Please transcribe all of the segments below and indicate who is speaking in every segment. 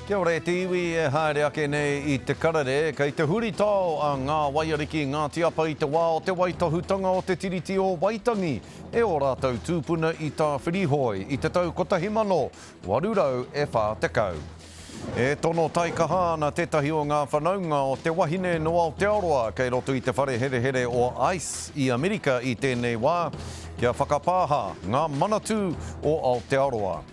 Speaker 1: Kia ora e te iwi e haere ake nei i te karere, kei te huritao a Ngā Waiariki Ngāti Apa i te wā o te waitohutanga o te Tiriti o Waitangi e ō rātou tūpuna i Tāwhirihoi i te tau 1840. E tono taikaha ana tētahi o ngā whanaunga o te wahine nō Aotearoa kei roto i te whare herehere o Ice i Amerika i tēnei wā kia whakapāha ngā Manatū o Aotearoa.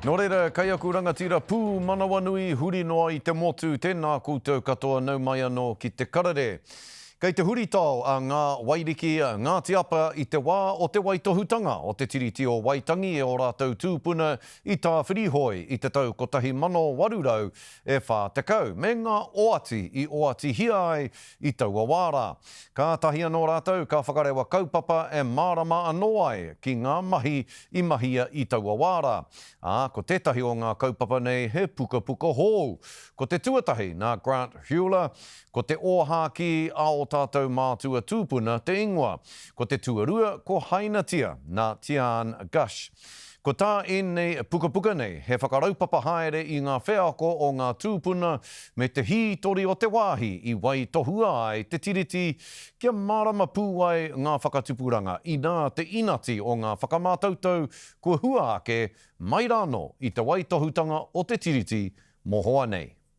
Speaker 1: Nō reira, kei aku rangatira pūmanawanui huri noa i te motu tēnā koutou katoa nau mai anō ki te karere. Kei te huritao a Ngā Wairiki, Ngāti Apa i te wā o te waitohutanga o te Tiriti o Waitangi e ō rātou tūpuna i Tāwhirihoi i te tau 1840 me ngā oati i oatihia ai I taua wā rā, kātahi anō rātou ka whakarewa kaupapa e mārama anō ai ki ngā mahi i mahia i taua wā rā, ā, ko tētahi o ngā kaupapa nei he pukapuka hou. Ko te tuatahi nā Grant Huler, ko Te Ōhākī a ō tātou mātua tūpuna te ingoa. Ko te tuarua ko Hainatia, nā Tiaan Gush. Ko tā ēnei pukapuka nei he whakaraupapa haere i ngā wheako o ngā tūpuna me te hītori o te wāhi i waitohua ai te Tiriti kia mārama pū ai ngā whakatupuranga inā te inati o ngā whakamātautau kua hua ake mai rānō i te waitohutanga o te Tiriti mohoa nei.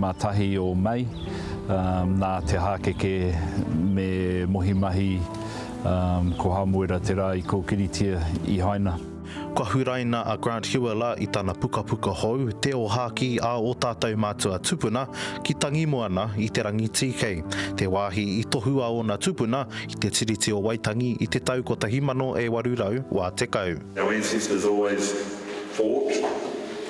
Speaker 2: Mā tahi o Mei, nā te hākeke me Mohi Mahi, ko Hamuera te rā i kōkiritia, i haina. Kua huraina
Speaker 3: a Grant Huela i tana pukapuka hou, Te Ōhākī a ō tātou mātua tupuna ki Tangimoana i te rangi tīkei, te wāhi i tohu a ōna tupuna i te Tiriti o Waitangi i te tau 1880. Our ancestors always
Speaker 4: fought.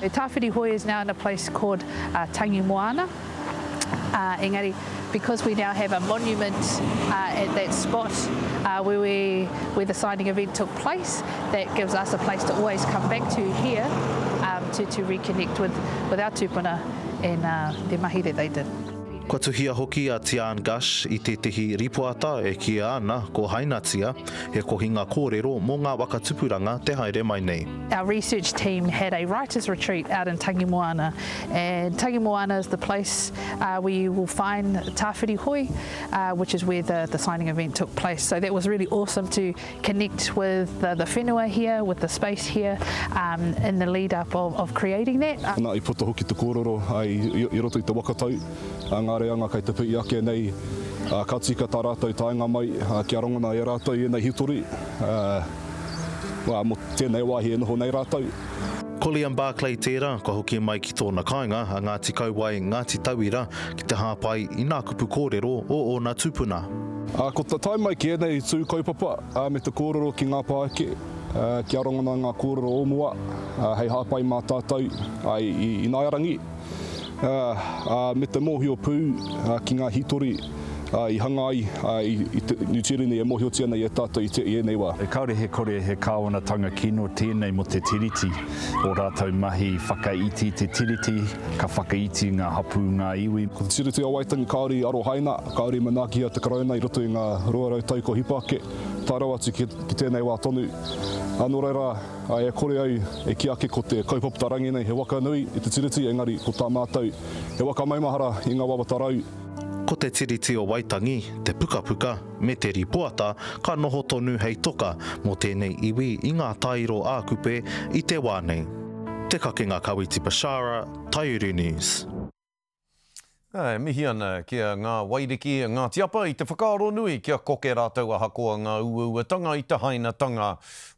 Speaker 2: He tāwhiri hoi is
Speaker 5: now in a place called Tangi Moana engari because we now have a monument at that spot where the signing event took place that gives us a place to always come back to here to reconnect with our tūpuna and te mahi that they did. Kua tuhia hoki
Speaker 3: a Tiaan Gash i tētehi rīpoata e kiia ana ko Hainatia, he kohinga kōrero mō ngā waka tupuranga te haere mai nei. Our research team
Speaker 5: had a writers retreat out in Tangimoana and Tangimoana is the place uh, where you will find Tawhiri Hoi uh, which is where the, the signing event took place so that was really awesome to connect with the, the whenua here with the space here um, in the lead up of, of creating that. Nā i poto hoki te
Speaker 6: kōrero ai i, i roto i te wakatau a ngā reanga kai te pui ake nei uh, ka tika tā rātou taenga mai uh, kia rongona e rātou i ēnei hitori uh, Ā, mō tēnei wāhi e noho nei rātou. Colliam
Speaker 3: Barclay tērā kua hoki mai ki tōna kāinga a Ngāti Kauae, Ngāti Tauira ki te hāpai i nā kupu kōrero o ōna tupuna. Ā, ko te tae
Speaker 6: mai ki ēnei tū kaupapa me te kōrero ki ngā pāeke, kia rongona ngā kōrero o mua hei hāpai mā tātou i Ināiarangi. ā, me te mōhio pū ki ngā hītori i hanga ai i te Niu Tīreni e mōhiotia nei e tātou i ēnei wā. Kāore he kore he
Speaker 2: kāwanatanga kino tēnei mō te Tiriti, ō rātou mahi whakaiti te Tiriti, ka whakaiti ngā hapū, ngā iwi. Ko te Tiriti o Waitangi
Speaker 6: kāore i arohaina, kāore i manaakihia te Karauna i roto i ngā rua rau tau kua hipa ake, tae rawa atu ki tēnei wā tonu. Nō reira, Ā, e kore ai e kī ake ko te kaupapata rangi nei he waka nui i te Tiriti, engari ko tā mātou he waka maumahara i ngā wawata rau. Ko te Tiriti
Speaker 3: o Waitangi, te pukapuka, me te rīpoata ka noho tonu hei toka mō tēnei iwi i ngā tāiro ā-kupe i te wā nei. Te Kakenga Kawiti Bashara, Taiuru News.
Speaker 1: Ā, e mihi ana ki a Ngā Wairiki, a Ngāti Apa i te whakaaro nui kia koke rātou ahakoa ngā uauatanga i te hainatanga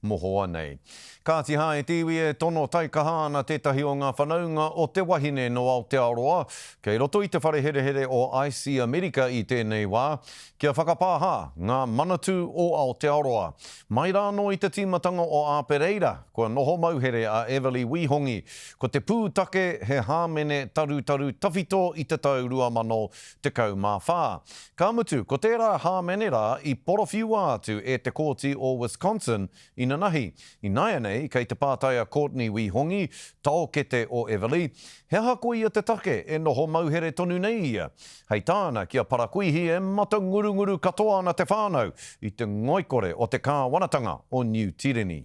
Speaker 1: mohoa nei. Kāti hā, e te iwi e tono taikaha ana tētahi o ngā whanaunga o te wahine nō Aotearoa kei roto i te whare herehere o ice i Amerika i tēnei wā, kia whakapāha ngā Manatū o Aotearoa. Mai rānō i te tīmatanga o Āpereira, kua noho mauhere a Everly Wī Hongi Ko te pūtake he hāmene tarutaru tawhito i te tau 2014. Ka mutu, ko tērā hāmene rā i porowhiua atu e te Kōti o Wisconsin inanahi. Ināianei, kei te pātai a Courtney Wī Hongi, taokete o Everly, he aha koia te take e noho mauhere tonu nei ia? Hei tāna ki a Parakuihi e matangurunguru katoa ana te whānau i te ngoikore o te kāwanatanga o Niu Tireni.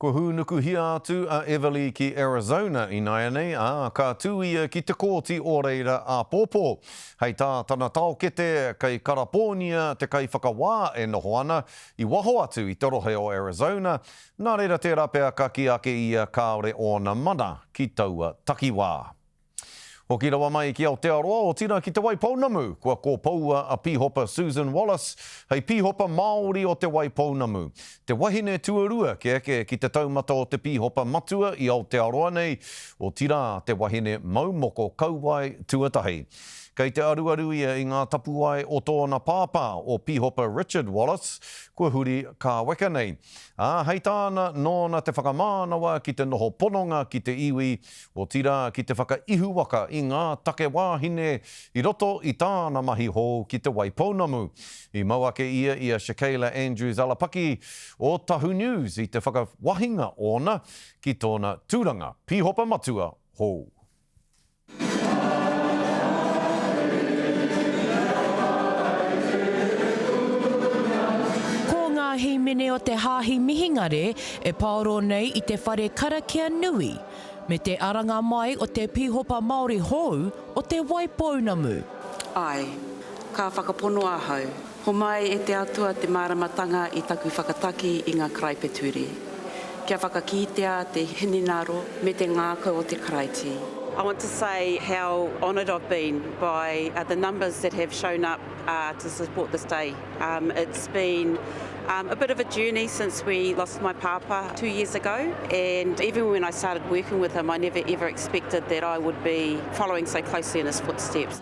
Speaker 7: Kua
Speaker 1: hūnukuhia atu a Everly ki Arizona ināianei, ā, ka tū ia ki te Kōti o reira āpōpō. Hei tā tana taokete, kei Karapōnia te kaiwhakawā e noho ana, i waho atu i te rohe o Arizona, nā reira tērā pea ka kī ake ia kāore ōna mana ki taua takiwā. Hoki rawa mai ki Aotearoa, otirā ki Te Waipounamu, kua kōpoua a Pīhopa Susan Wallace hei Pīhopa Māori o Te Waipounamu. Te wahine tuarua kē ake ki te taumata o te pīhopa matua i Aotearoa nei, otirā te wahine mau moko kauae tuatahi. Kei te aruaru ia i ngā tapuae o tōna pāpā, o Pīhopa Richard Wallace, kua huri kāweka nei. Ā, hei tāna, nōna te whakamānawa ki te noho pononga ki te iwi, otirā ki te whakaihuwaka i ngā take wāhine i roto i tāna mahi hou ki Te Waipounamu. I mau ake ia i a Shakayla Andrews Alapaki o Tahu News i te whakawahinga ōna ki tōna tūranga Pīhopa Matua hou.
Speaker 8: Ko ngā hīmene o te Hāhi Mihingare e pāoro nei i te whare karakia nui me te aranga mai o te Pīhopa Māori hou o Te Waipounamu. Āe,
Speaker 9: ka whakapono ahau. Homai e te Atua te māramatanga i taku whakataki i ngā karaipeture, kia whakakītea te hinengaro me te ngākau o te Karaiti. I want to say how honoured I've been by the numbers that have shown up to support this day. Um, it's been um, a bit of a journey since we lost my papa two years ago, and even when I started working with him, I never ever expected that I would be following so closely in his footsteps.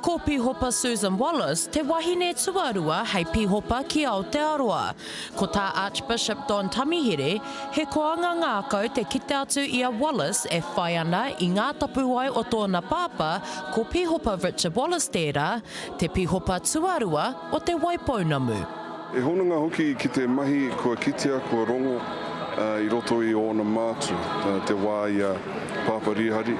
Speaker 9: Ko
Speaker 8: Pihopa Susan Wallace te wahine tuarua hei Pihopa ki Aotearoa. Ko tā Archbishop Don Tamihere, he koanga ngākau te kite atu i a Wallace e whai ana i ngā tapuwae o tōna pāpā, ko Pihopa Richard Wallace tērā, Te pihopa tuarua o Te Waipounamu. He hononga
Speaker 10: hoki ki te mahi kua kitea kua rongo i roto i ōna mātu te wā i a Pāpā Rīhari.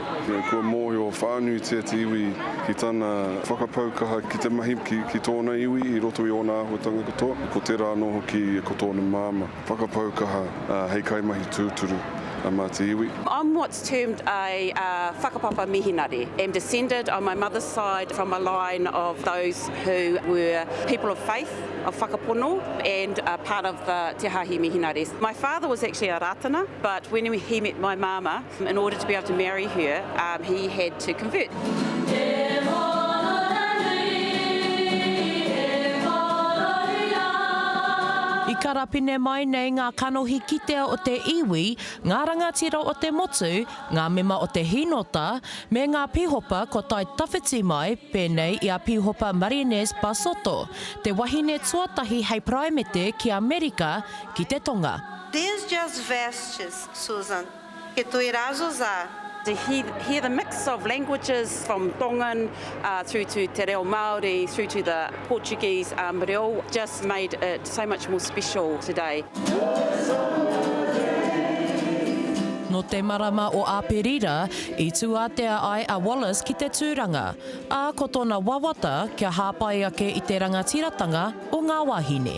Speaker 10: Kua mōhio whānuitia te iwi ki tana whakapau kaha ki te mahi ki tōna iwi i roto i ōna āhuatanga katoa, ko tērā anō hoki ko tōna māmā. Whakapau kaha hei kaimahi tūturu a Ngāti Iwi.
Speaker 9: I'm what's termed a whakapapa mihinare, am descended on my mother's side from a line of those who were people of faith, of whakapono and part of the Te Haahi Mihinares. My father was actually a Rātana but when he met my māmā, In order to be able to marry her, um, he had to convert.
Speaker 8: I karapine mai nei ngā kanohi kitea o te iwi, ngā rangatira o te motu, ngā mema o te hīnota, me ngā pīhopa kua tae tawhiti mai, pēnei i a Pīhopa Marinez Basoto, te wahine tuatahi hei Paraimete ki Amerika ki te Tonga.
Speaker 11: These
Speaker 8: just
Speaker 11: vastures,
Speaker 8: Susan.
Speaker 11: Ke toi rā Zozaa. To
Speaker 9: hear the mix of languages from Tongan through to te reo Māori through to the Portuguese reo just made it so much more special today.
Speaker 8: Nō te marama o Āperira i tūātea ai a Wallace ki te tūranga, ā, ko tōna wawata kia hāpai ake i te rangatiratanga o ngā wāhine.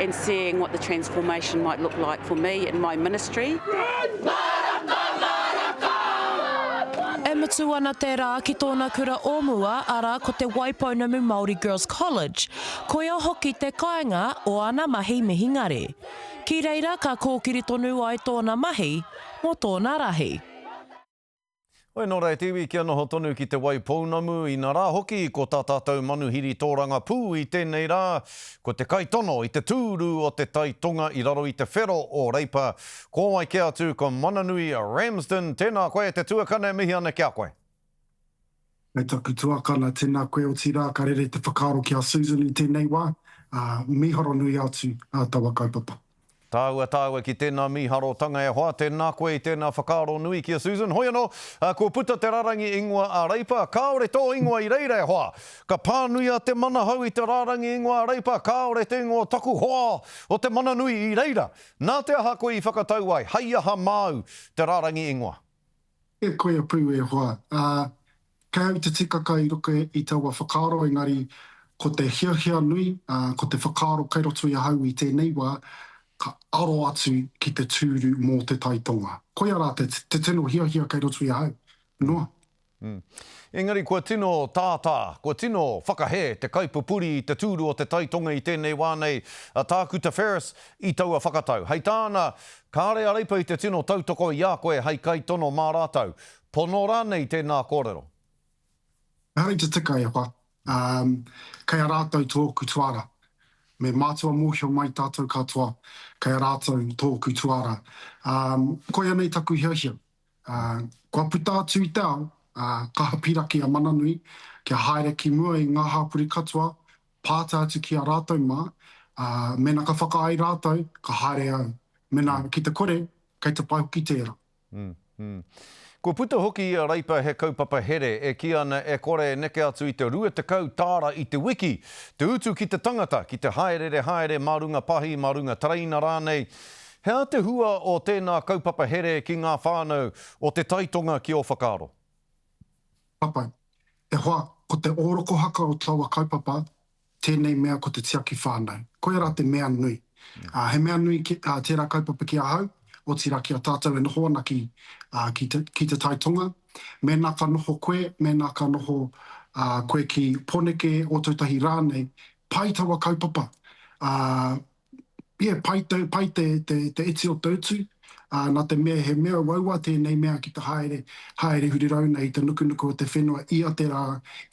Speaker 9: and seeing what the transformation might look like for me in my ministry.
Speaker 8: E mutu ana te rā ki tōna kura o mua, arā, ko te Waipounamu Māori Girls College. Koia hoki te kāinga o ana mahi mihingare. Ki reira ka kōkiri tonu ai tōna mahi mō tōna rahi.
Speaker 1: Hoi nō reira te iwi kia noho tonu ki Te Waipounamu, ina rā hoki ko tā tātou manuhiri tōranga pū i tēnei rā, ko te kaitono i te tūru o Te Tai Tonga i raro i te whero o Reipa, ko wai kē atu ko Mananui Ramsden, tēnā koe te tuakana e mihi ana ki a koe.
Speaker 11: Kei taku tuakana, tēnā koe otirā ka rere te whakaaro ki a Susan i tēnei wā, ā, mīharo nui atu ā taua kaupapa. Tāua, tāua
Speaker 1: ki tēnā mīharotanga e hoa, tēnā koe i tēnā whakaaro nui ki a Susan. Hoi anō, ā, kua puta te rārangi ingoa a Reipa, kāore tō ingoa i reira e hoa. Ka pānuia te manahau i te rārangi ingoa a Reipa, kāore te ingoa o taku hoa o te mana nui i reira. Nā te aha koe i whakatau ai, hei aha māu te rārangi ingoa? E koia
Speaker 11: pū e hoa. Ā, kei au te tikaka i ruku i taua whakaaro engari ko te hiahia nui, ā, ko te whakaaro kei roto i ahau i tēnei wā, ka aro atu ki te tūru mō Te Tai Tonga. Koia rā te, te tino hiahia kei roto i ahau. Noa. Mm.
Speaker 1: Engari kua tino tātā, kua tino whakahē te kaipupuri i te tūru o Te Tai Tonga i tēnei wā nei, a Tākuta Ferris, i taua whakatau. Hei tāna, Kāre a Reipa i te tino tautoko i a koe hei kaitono mā rātou. Pono rānei tēnā kōrero?
Speaker 11: Engari te tika e wha, ā, kei a rātou tōku tuara. Me mātua mōhio mai tātou katoa, kei a rātou tōku tuara. Ā, koianei taku hiahia, Kua puta atu i te ao, ka hapiraki a Mananui kia haere ki mua i ngā hāpori katoa, pāta atu ki a rātou mā, ā, mēnā ka whakaae rātou, ka haere au. Mēnā ki te kore, kei te pai hoki tērā.
Speaker 1: Kua puta hoki i a Reipa he kaupapa here e kī ana e kore e neke atu i te 20 tāra i te wiki, te utu ki te tangata ki te hāererehaere mā runga pahi, mā runga tereina rānei, He aha te hua o tēnā kaupapa here ki ngā whānau o Te Tai Tonga ki ō whakaaro?
Speaker 11: Papai, E hoa, ko te ōrokohaka o taua kaupapa tēnei mea ko te tiaki whānau. Koia rā te mea nui. He mea nui tērā kaupapa ki ahau, otirā ki a tātou e noho ana ki ki Te Tai Tonga. Mēnā ka noho koe, mēnā ka noho koe ki Poneke, Ōtautahi rānei, pai taua kaupapa. Yeah, pai tau, pai te, te, te iti o te utu, ā, nā te mea he mea uaua tēnei mea ki te haere, haere huri rauna i te nukunuku o te whenua ia te rā,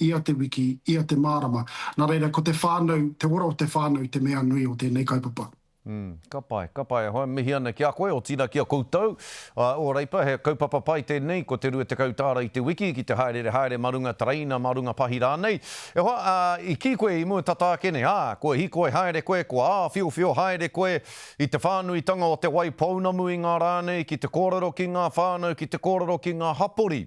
Speaker 11: ia te wiki, ia te mārama. Nā reira, ko te whānau, te ora o te whānau te mea nui o tēnei kaupapa. Mm, ka pai,
Speaker 1: ka pai. Ahau e mihi ana ki a koe, otirā ki a koutou. A Ōreipa, he kaupapa pai tēnei, ko te rua tekau tāra i te wiki, ki te hāereere haere mā runga tereina, mā runga pahi rānei. E hoa, ā, i kī koe i mua tata ake nei, ā, kua hīkoi haere koe, kua āwhiowhio haere koe i te whānuitanga o te wai pounamu i ngā rā nei, ki te kōrero ki ngā whānau, ki te kōrero ki ngā hapori.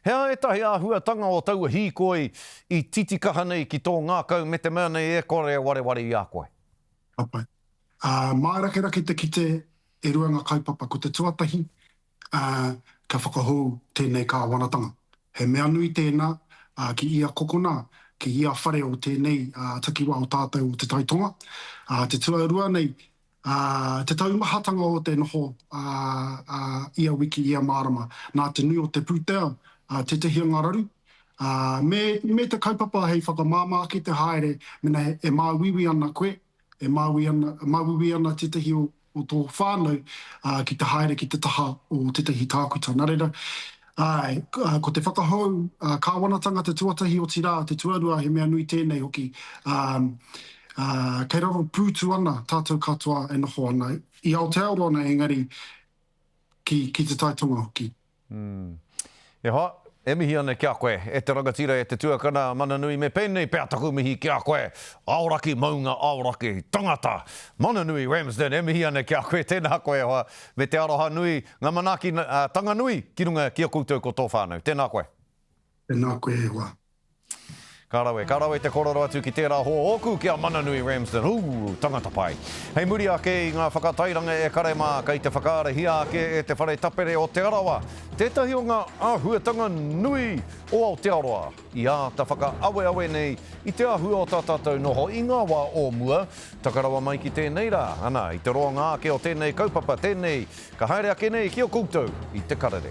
Speaker 1: He aha ētahi āhuatanga o taua hīkoi i titikaha nei ki tō ngākau me te mea nei e kore e wareware i a koe? Papai.
Speaker 11: Ā, mārakerake te kite E rua ngā kaupapa ko te tuatahi, ā, kia whakahou tēnei kāwanatanga. He mea nui tēnā, ā, ki ia kokona, ki ia whare o tēnei, ā, takiwā o tātou o Te Tai Tonga. Ā, te tuarua nei, ā, te taumahatanga o te noho, ā, ā, ia wiki, ia marama, nā te nui o te pūtea, ā, tētehi o ngā raru, ā, me, me te kaupapa hei whakamāmā ki te haere, mēnā e māuiui ana koe, E māuiui ana tētahi o tō whānau ki te haere ki te taha o tētahi tākuta. Nā reira, āe, ko te whakahou kāwanatanga te tuatahi, otirā, te tuarua, he mea nui tēnei hoki. Kei raro pūtu ana tātou katoa e noho ana, i Aotearoa nei engari ki Te Tai Tonga hoki.
Speaker 1: E hoa, e mihi ana kia koe, e te rangatira, e te tuakana, mana nui, me pēnei pea taku mihi kia koe, Aoraki maunga, aoraki tangata, mana nui Ramsden, e mihi ana kia koe, tēnā koe e hoa, me te aroha nui, nga manaaki tanga nui ki runga ki a koutou ko tō whānau, tēnā koe. Tēnā koe
Speaker 11: e hoa. Ka rawe,
Speaker 1: ka rawe te korero atu ki tērā hoa ōku ki a Mananui Ramsden, ū, tangata pai. Hei muri ake i ngā whakatairanga e kare mā, kei te whakaarahia ake e Te Whare Tapere o Te Arawa tētahi o ngā āhuatanga nui o Aotearoa i āta whakaaweawe nei i te āhua o tā tātou noho i ngā wā o mua, taka rawa mai ki tēnei rā, ana, i te roanga ake o tēnei kaupapa, tēnei ka haere ake nei ki a koutou i te karere.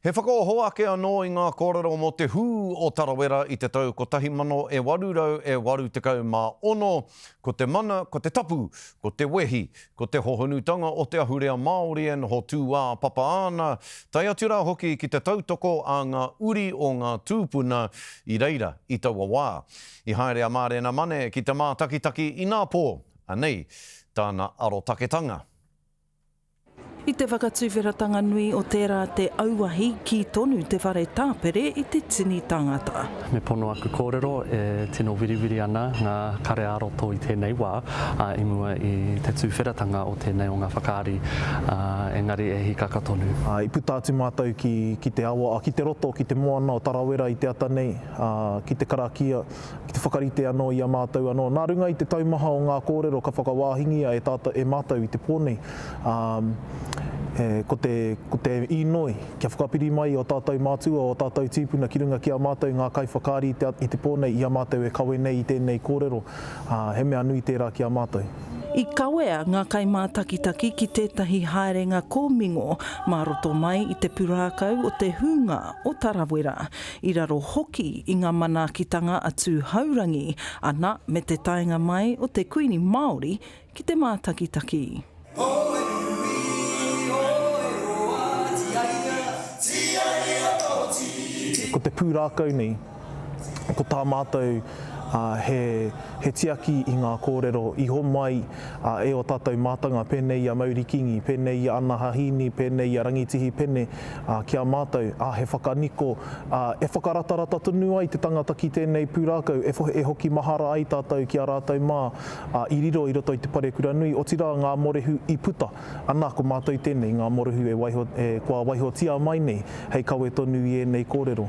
Speaker 1: He whakaoho ake anō i ngā kōrero mō te hū o Tarawera i te tau 1886, ko te mana, ko te tapu, ko te wehi, ko te hohonutanga o te ahurea Māori e noho tūāpapa ana, tae atu rā hoki ki te tautoko a ngā uri o ngā tūpuna i reira i taua wā. I haere a Mārena Mane ki te mātakitaki inā pō anei tāna arotaketanga.
Speaker 12: I te whakatuwheratanga nui o tērā te auahi, kī tonu te whare tāpere i te tini tangata. Me pono aku
Speaker 13: kōrero e tino wiriwiri ana ngā kare ā-roto i tēnei wā, ā, i mua i te tuwheratanga o tēnei o ngā whakaari, ā, engari e hīkaka tonu. I puta atu mātou
Speaker 3: ki te awa, ki te roto, ki te moana o Tarawera i te ata nei, ā, ki te karakia. ki te whakarite anō i a mātou anō. Nā runga i te taumaha o ngā kōrero ka whakawāhingia e tātou, e mātou i te pō nei, ā, e, ko te, ko te īnoi, kia whakapiri mai i ō tātou mātua, ō tātou tīpuna ki runga ki a mātou ngā kaiwhakaari i te, i te pō nei, i a mātou e kawe nei i tēnei kōrero, ā, he mea nui tērā ki a mātou. I kawea
Speaker 12: ngā kaimātakitaki ki tētahi haerenga kōmingo mā roto mai i te purākau o te hūnga o Tarawera. i raro hoki i ngā manaakitanga a Tūhourangi ana me te taenga mai o te Kuini Māori ki te mātakitaki.
Speaker 3: Ko te pūrākau nei, ko tā mātou he tiaki i ngā kōrero i homai e ō tātou mātanga, pēnei i a Mauri Kingi, pēnei i a Ana Hahīni, pēnei i a Rangitihi Pene, ā, ki a mātou, ā, he whakaniko, ā, e whakaratarata tonu ai te tangata ki tēnei pūrākau, e, e hoki mahara ai tātou ki a rātou mā, ā, i riro i roto i te parekura nui, otirā ngā morehu i puta, anā, ko mātou tēnei, ngā morehu e waiho, e, kua waihotia mai nei, hei kawe tonu i ēnei kōrero.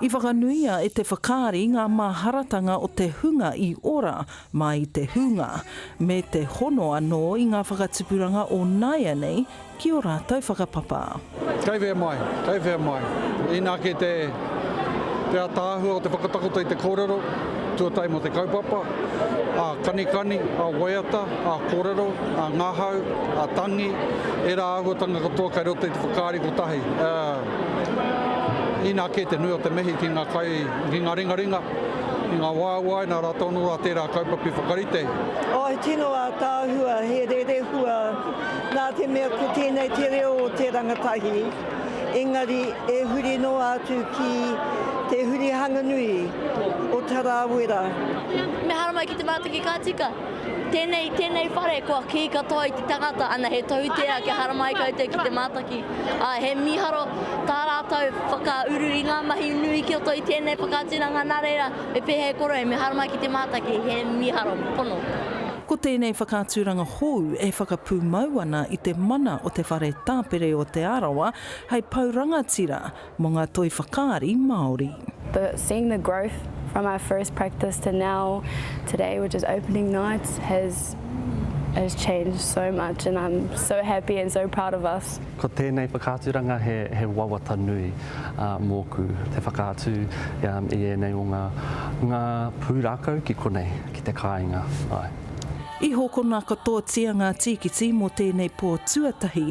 Speaker 14: I whakanuia
Speaker 12: e te whakaari ngā māharatanga o te hunga i ora mā i te hūnga, me te hono anō i ngā whakatipuranga o nāianei ki ō rātou whakapapa. Kei whea mai?
Speaker 15: Kei whea mai? Inā kē te ataahua o te whakatakoto i te kōrero tuatahi mō te kaupapa, a kanikani, a waiata, a kōrero, a ngahau, a tangi, ērā āhuatanga katoa kei roto i te whakaari kotahi. Inā kē te nui o te mihi ki ngā kai ki ngā ringaringa, ki ngā waewaenga rā tonu a tērā kaupapa i whakarite. Oh, he tino
Speaker 16: ātaahua, he rerehua, nā te mea ko tēnei te reo o te rangatahi, engari e huri noa atu ki te hurihanga nui o Tarawera. Meharo
Speaker 17: mai ki te mātaki ka tika. Tēnei, tēnei whare kua kī katoa i te tangata, ana he tohutea kia haramai koutou ki te mātaki. Ā, he mīharo tā rātou whakauru i ngā mahi nui ki roto i tēnei whakaaturanga nā reira me pēhea e korohia me haramai ki te mātaki, he mīharo pono. Ko
Speaker 12: tēnei whakaaturanga hou e whakapūmau ana i te mana o te whare tāpere o Te Arawa hei pou rangatira mō ngā toi whakaari Māori. But seeing the
Speaker 14: growth from our first practice to now today which is opening night has has changed so much and I'm so happy and so proud of us. Ko tēnei whakaaturanga
Speaker 13: he he wawata nui mōku te whakaatu i ēnei o ngā ngā pūrākau ki konei ki te kāinga āe. I hokona
Speaker 12: katoatia ngā tīkiti mō tēnei pō tuatahi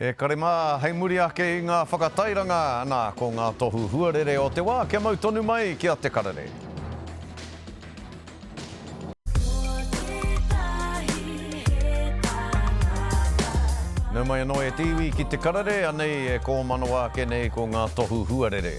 Speaker 1: E kare mā, hei muri ake i ngā whakatairanga, nā, ko ngā tohu huarere o te wā kia mau tonu mai ki a Te Karere. Nau mai anō e te iwi ki Te Karere, anei e kōmanawa ake nei ko ngā tohu huarere.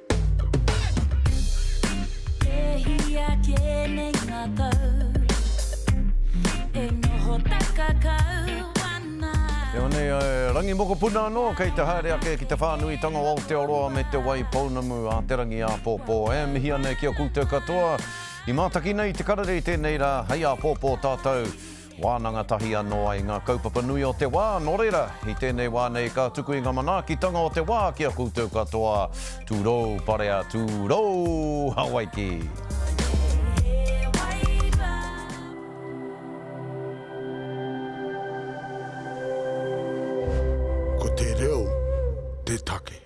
Speaker 1: Rangi mokopuna anō kei te haere ake ki te whānuitanga o Aotearoa me Te Wai Pounamu a Te Rangi Āpōpō. E mihi ana ki a koutou katoa i mātaki nei te karere i tēnei rā, hei āpōpō tātou. Wānanga tahi anō ai ngā kaupapa nui o te wā, nō reira, i tēnei wā nei ka tuku i ngā manaakitanga o te wā ki a koutou katoa. Tūrou, parea, tūrou! Hawaiki!
Speaker 18: Ko te reo te take.